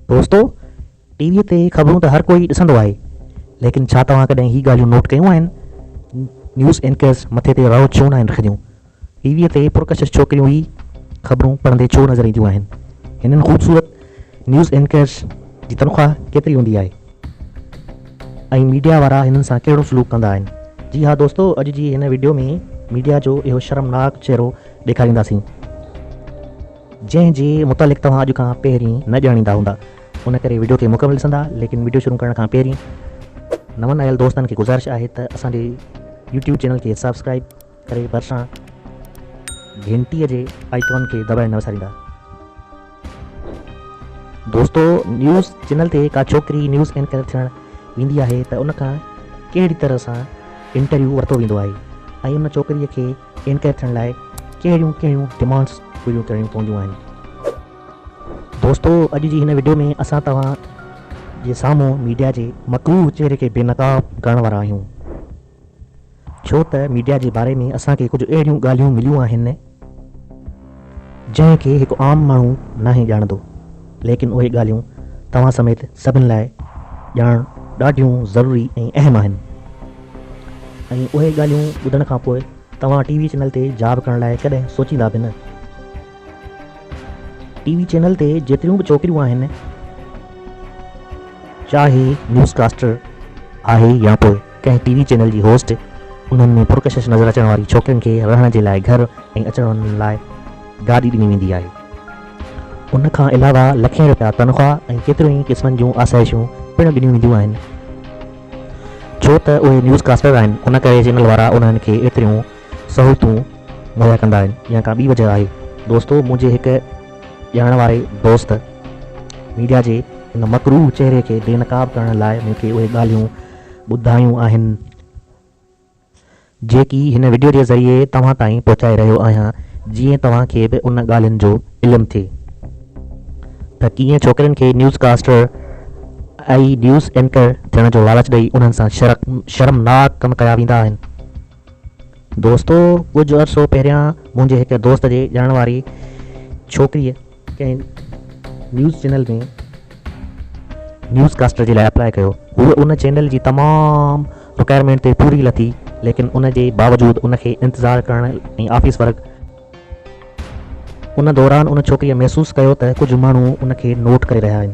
دوستو! T V تي خبرون ته هر ڪو ئي ڏسندو آهي، ليڪن ڇا توهان ڪڏهن هي ڳالهيون نوٽ ڪيون آهن؟ نيوز اينڪرز مٿي تي رئو ڇو ناهن رکنديون؟ ٽي ويء تي پرڪشش ڇوڪريون ئي خبرون پڙهندي ڇو نظر اينديون آهن؟ هنن خوبصورت نيوز اينڪرز جي تنخواه ڪيتري هوندي آهي؟ ۽ ميڊيا وارا هنن سان ڪهڙو سلوڪ ڪندا آهن؟ جي ها دوستو! اڄ جي هن وڊيو ۾ ميڊيا جو اهو شرمناڪ چهرو ڏيکارينداسين. جنهن جي متعلق توهان اڄ کان پهرين نه ڄاڻيندا هوندا ان ڪري وڊيو کي مڪمل ڏسندا ليڪن وڊيو شروع ڪرڻ کان پهرين نون آيل دوستن کي گذارش آهي ته اسان جي يوٽيوب چينل کي سبسڪرائب ڪري ڀرسان گهنٽي جي آئيڪون کي دٻائڻ نه وساريندا دوستو نيوز چينل تي ڪا ڇوڪري نيوز اينڪر ٿيڻ ويندي آهي ته ان کان ڪهڙي طرح سان انٽرويو ورتو ويندو آهي ۽ ان ڇوڪري کي انٽر ٿيڻ لاء ڪهڙيون ڪهڙيون ڊمانڊس پوريون ڪرڻيون پونديون آهن دوستو اڄ جي هن وڊيو ۾ اسان توهان جي سامهون ميڊيا جي مڪروه چهري کي بي نقاب ڪرڻ وارا آهيون ڇو ته ميڊيا جي باري ۾ اسان کي ڪجهه اهڙيون ڳالهيون مليون آهن جنهن کي هڪ عام ماڻهو ناهي ڄاڻندو، ليڪن اهي ڳالهيون توهان سميت سڀن لاء ڄاڻڻ ڏاڍيون ضروري ۽ اهم آهن ۽ اهي ڳالهيون ٻڌڻ کان پوء توهان ٽي وي چينل تي جاب ڪرڻ لاء ڪڏهن سوچيندا به نه. ٽي وي چينل تي جيتريون به ڇوڪريون آهن، چاهي نيوز ڪاسٽر آهي يا پوء ڪنهن ٽي وي چينل جي هوسٽ انهن ۾ پرڪشش نظر اچڻ واري ڇوڪرين کي رهڻ جي لاء گهر ۽ اچڻ وڃڻ لاء گاڏي ڏني ويندي آهي. ان کان علاوه لکين رپيا تنخواهه ۽ ڪيتريون ئي قسمن جون آسائشون پڻ ڏنيون وينديون آهن. ڇو ته اهي نيوز ڪاسٽر آهن ان ڪري چينل وارا انهن کي ايتريون سهولتون مهيا ڪندا آهن يا ڪا ٻي وجهه آهي. دوستو منهنجي هڪ ڄاڻڻ واري دوست ميڊيا جي ان مڪروهه چهري کي بي نقاب ڪرڻ لاء مون کي اهي ڳالهيون ٻڌايون آهن جيڪي هن وڊيو جي ذريعي توهان تائين پهچائي رهيو آهيان جيئن توهان کي به ان ڳالهين جو علم ٿئي ته ڪيئن ڇوڪرين کي نيوز ڪاسٽر ۽ نيوز اينڪر ٿيڻ جو لالچ ڏئي انهن سان شرمناڪ ڪم ڪيا ويندا آهن. دوستو ڪجهه عرصو پهريان منهنجي هڪ دوست جي ڄاڻ واري ڇوڪريء ڪنهن نيوز چينل ۾ نيوز ڪاسٽر جي لاء اپلاء ڪيو هوء ان چينل جي تمام رڪائرمينٽ تي پوري لٿي ليڪن ان جي باوجود ان کي انتظار ڪرڻ ۽ آفيس ورڪ ان دوران ان ڇوڪريء محسوس ڪيو ته ڪجهه ماڻهو ان کي نوٽ ڪري رهيا آهن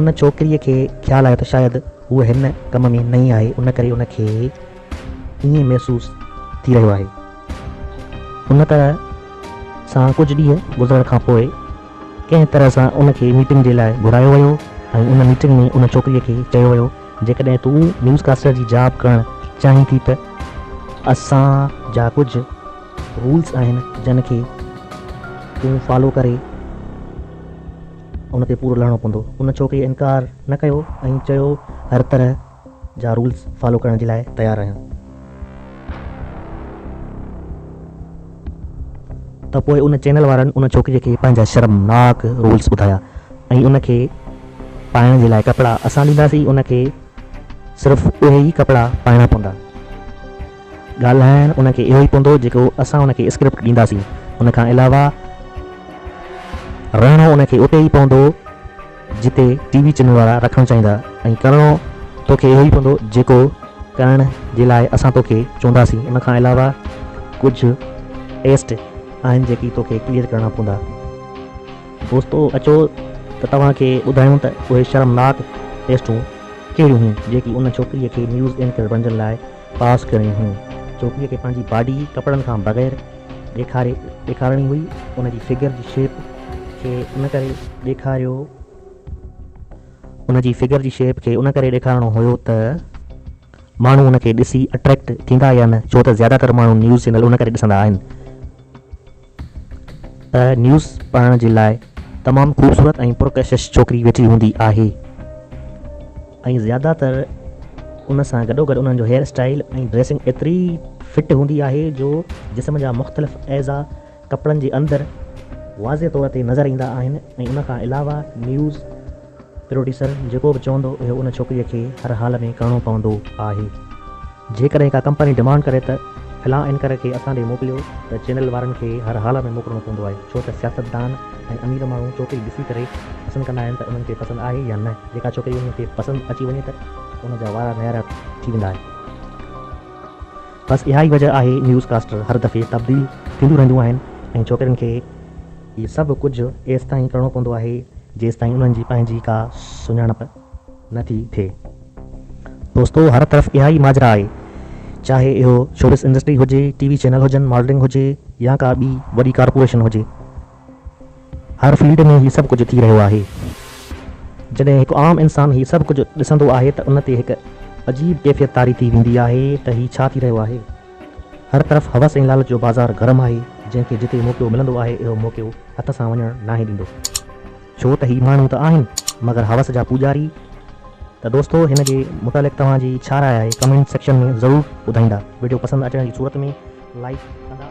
ان ڇوڪريء کي خيال آيو ته شايد هوء هن ڪم ۾ نئين آهي ان ڪري ان کي ائين محسوس ٿي رهيو آهي. ان طرح سان ڪجهه ڏينهن گذرڻ کان پوء ڪنهن طرح سان ان کي ميٽنگ جي لاء گهرايو ويو ۽ ان ميٽنگ ۾ ان ڇوڪريء کي چيو ويو جيڪڏهن تون نيوز ڪاسٽر جي جاب ڪرڻ چاهين ٿي ته اسان جا ڪجهه رولز آهن جن کي تون فالو ڪري ان تي پورو لهڻو پوندو. ان ڇوڪريء انڪار نه ڪيو ۽ چيو هر طرح. جا رولز فالو ڪرڻ جي لاء تيار رهيو ته پوء ان چينل وارن ان ڇوڪريء کي پنهنجا شرمناڪ رولز ٻڌايا ۽ ان کي پائڻ جي لاء ڪپڙا اسان ڏينداسين ان کي صرف اهي ئي ڪپڙا پائڻا پوندا ڳالهائڻ ان کي اهو ئي پوندو جيڪو اسان ان کي اسڪرپٽ ڏينداسين ان کان علاوه رهڻو ان کي اتي ئي پوندو. جتي ٽي وي چينل وارا رکڻ چاهيندا ۽ ڪرڻو توکي اهو ئي پوندو جيڪو ڪرڻ جي لاء اسان توکي چونداسين ان کان علاوه ڪجهه ٽيسٽ آهن جيڪي توکي ڪليئر ڪرڻا پوندا دوستو اچو ته توهان کي ٻڌايون ته اهي شرمناڪ ٽيسٽون ڪهڙيون هيون جيڪي ان ڇوڪري کي نيوز اينڪر بڻجڻ لاء پاس ڪرڻيون هيون. ڇوڪريء کي پنهنجي باڊي ڪپڙن کان بغير ڏيکاري ڏيکارڻي هئي. ان جي فگر جي شيپ کي ان ڪري ڏيکاريو ان جي فگر جي شيپ کي ان ڪري ڏيکارڻو هيو ته ماڻهو ان کي ڏسي اٽريڪٽ ٿيندا يا نه ڇو ته زياده تر ماڻهو نيوز چينل ان ڪري ڏسندا آهن. ته نيوز پڙهڻ جي لاء تمام خوبصورت ۽ پرڪشش ڇوڪري ويٺي هوندي آهي ۽ زياده تر ان سان گڏوگڏ انهن جو هيئر اسٽائيل ۽ ڊريسنگ ايتري فٽ هوندي آهي جو جسم جا مختلف اعضا ڪپڙن جي اندر واضح طور تي نظر ايندا آهن ۽ ان کان علاوه نيوز پروڊيوسر جيڪو به چوندو اهو ان ڇوڪريء کي هر حال ۾ ڪرڻو پوندو آهي. جيڪڏهن ڪا ڪمپني ڊمانڊ ڪري ته فلان اينڪر کي اسان ڏي موڪليو ته چينل وارن کي هر حال ۾ موڪلڻو پوندو آهي ڇو ته سياستدان ۽ امير ماڻهو ڇوڪري ڏسي ڪري پسند ڪندا آهن ته انهن کي پسند آهي يا نه جيڪا ڇوڪري انهن کي پسند اچي وڃي ته ان جا وارا نيارا ٿي ويندا آهن. بس اها ئي وجه آهي نيوز ڪاسٽر هر دفعي تبديل ٿينديون رهنديون آهن ۽ ڇوڪرين کي. هي سڀ ڪجهه ايستائين ڪرڻو پوندو آهي، جيستائين انهن جي پنهنجي ڪا سڃاڻپ نه ٿي ٿئي. دوستو هر طرف اها ئي ماجرا آهي، چاهي اهو شوبز انڊسٽري هجي، ٽي وي چينل هجن، ماڊلنگ هجي يا ڪا ٻي وڏي ڪارپوريشن هجي. هر فيلڊ ۾ هي سڀ ڪجهه ٿي رهيو آهي. جڏهن هڪ عام انسان هي سڀ ڪجهه ڏسندو آهي ته ان تي هڪ عجيب ڪيفيت طاري ٿي ويندي آهي ته هي ڇا ٿي رهيو آهي. هر طرف هوس ۽ لالچ جو بازار گرم آهي، جنهن کي جتي موقعو ملندو آهي، اهو موقعو هٿ سان وڃڻ ناهي ڏيندو. ڇو ته هي ماڻهو ته آهن، مگر هوس جا پوڄاري. ته دوستو هن جي متعلق توهان جي ڇا راء آهي ڪمينٽ سيڪشن ۾ ضرور ٻڌائيندا. وڊيو پسند اچڻ جي صورت ۾ لائيڪ ڪندا.